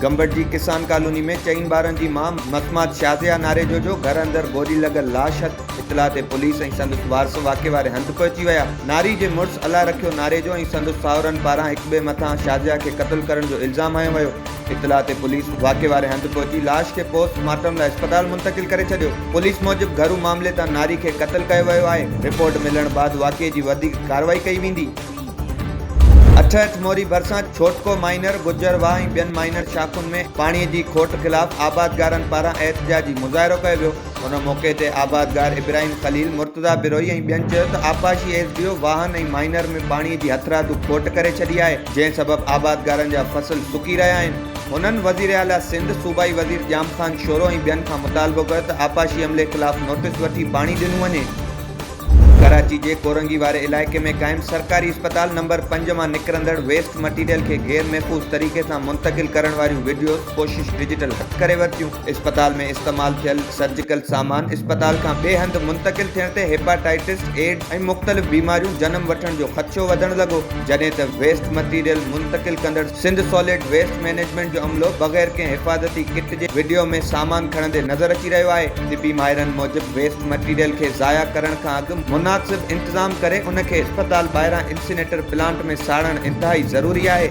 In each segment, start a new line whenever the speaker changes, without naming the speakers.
گمبٽ جي ڪسان ڪالوني ۾ چئن ٻارن جي ماء متمات شازيا ناريجو جو گهر اندر گولي لڳل لاش هٿ اطلاع تي پوليس ۽ سندس وارث واقعي واري هنڌ پهچي ويا ناري جي مڙس الله رکيو ناريجو ۽ سندس ساهرن پاران هڪٻئي مٿان شازيا کي قتل ڪرڻ جو الزام هنيو ويو اطلاع تي پوليس واقعي واري هنڌ پهچي لاش کي پوسٽ مارٽم لاء اسپتال منتقل ڪري ڇڏيو. پوليس موجب گهرو معاملي تان ناري کي قتل ڪيو ويو آهي، رپورٽ ملڻ بعد واقعي جي وڌيڪ ڪارروائي ڪئي ويندي. اٺهٺ موري ڀرسان ڇوٽڪو مائينر گجر واهه ۽ ٻين مائينر شاخن ۾ پاڻي جي کوٽ خلاف آبادگارن پاران احتجاجي مظاهرو ڪيو ويو. ان موقعي تي آبادگار ابراهيم خليل، مرتضيٰ بروهي ۽ ٻين چيو ته آبپاشي ايس ڊي او واهن ۽ مائينر ۾ پاڻي جي هٿرادو کوٽ ڪري ڇڏي آهي جنهن سبب آبادگارن جا فصل سڪي رهيا آهن هنن وزيراعليٰ سنڌ، صوبائي وزير ڄام خان شورو ۽ ٻين کان مطالبو ڪيو ته آبپاشي عملي خلاف نوٽيس وٺي پاڻي ڏنو وڃي. ڪراچي جي ڪورنگي واري علائقي ۾ قائم سرڪاري اسپتال نمبر پنج مان نڪرندڙ ويسٽ مٽيريل کي غير محفوظ طريقي سان منتقل ڪرڻ واريون وڊيوز ڪوشش ڊجيٽل هٿ ڪري ورتيون، اسپتال ۾ استعمال ٿيل سرجيڪل سامان اسپتال کان ٻئي هنڌ منتقل ٿيڻ تي هيپاٽائيٽس، ايڊز ۽ مختلف بيماريون جنم وٺڻ جو خدشو وڌڻ لڳو جڏهن ته ويسٽ مٽيريل منتقل ڪندڙ سنڌ ساليڊ ويسٽ مئنيجمينٽ جو عملو بغير ڪنهن حفاظتي ڪٽ جي وڊيو ۾ سامان کڻندي نظر اچي رهيو آهي، طبي ماهرن موجب ويسٽ مٽيريل کي ضايع ڪرڻ کان اڳ مناسب انتظام ڪري ان کي اسپتال ٻاهران انسينيٽر پلانٽ ۾ ساڙڻ انتهائي ضروري آهي.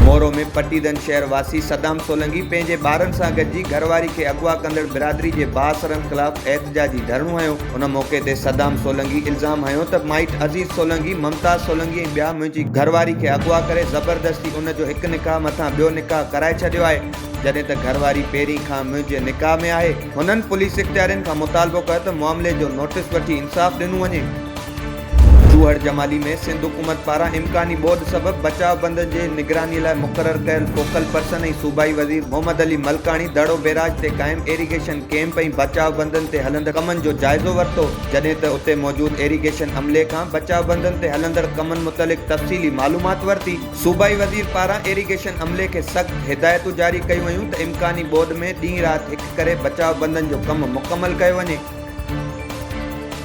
مورو ۾ پٽيدن شهر واسي صدام سولنگي پنهنجي ٻارن سان گڏجي گهرواري کي اغوا ڪندڙ برادري جي بااثرن خلاف احتجاجي ڌرڻو هنيو، ان موقعي تي صدام سولنگي الزام هنيو ته مائٽ عزيز سولنگي، ممتاز سولنگي ۽ ٻيا منهنجي گهر واري کي اغوا ڪري زبردستي ان جو هڪ نڪاح مٿان ٻيو نڪاح ڪرائي ڇڏيو آهي، جڏهن ته گهر واري پهرين کان منهنجي نڪاح ۾ آهي. هنن پوليس اختيارين کان مطالبو ڪيو ته معاملي جو نوٽيس وٺي انصاف ڏنو وڃي. چوهڙ جمالي ۾ سنڌ حڪومت پاران امڪاني ٻوڏ سبب بچاء بند جي نگراني لاء مقرر ڪيل فوڪل پرسن ۽ صوبائي وزير محمد علي ملڪاڻي دڙو بيراج تي قائم ايريگيشن ڪيمپ ۽ بچاء بندن تي هلندڙ ڪمن جو جائزو ورتو جڏهن ته اتي موجود ايريگيشن عملي کان بچاء بندن تي هلندڙ ڪمن متعلق تفصيلي معلومات ورتي. صوبائي وزير پاران ايريگيشن عملي کي سخت هدايتون جاري ڪيون ويون ته امڪاني ٻوڏ ۾ ڏينهن رات هڪ ڪري بچاء بندن جو ڪم مڪمل ڪيو وڃي.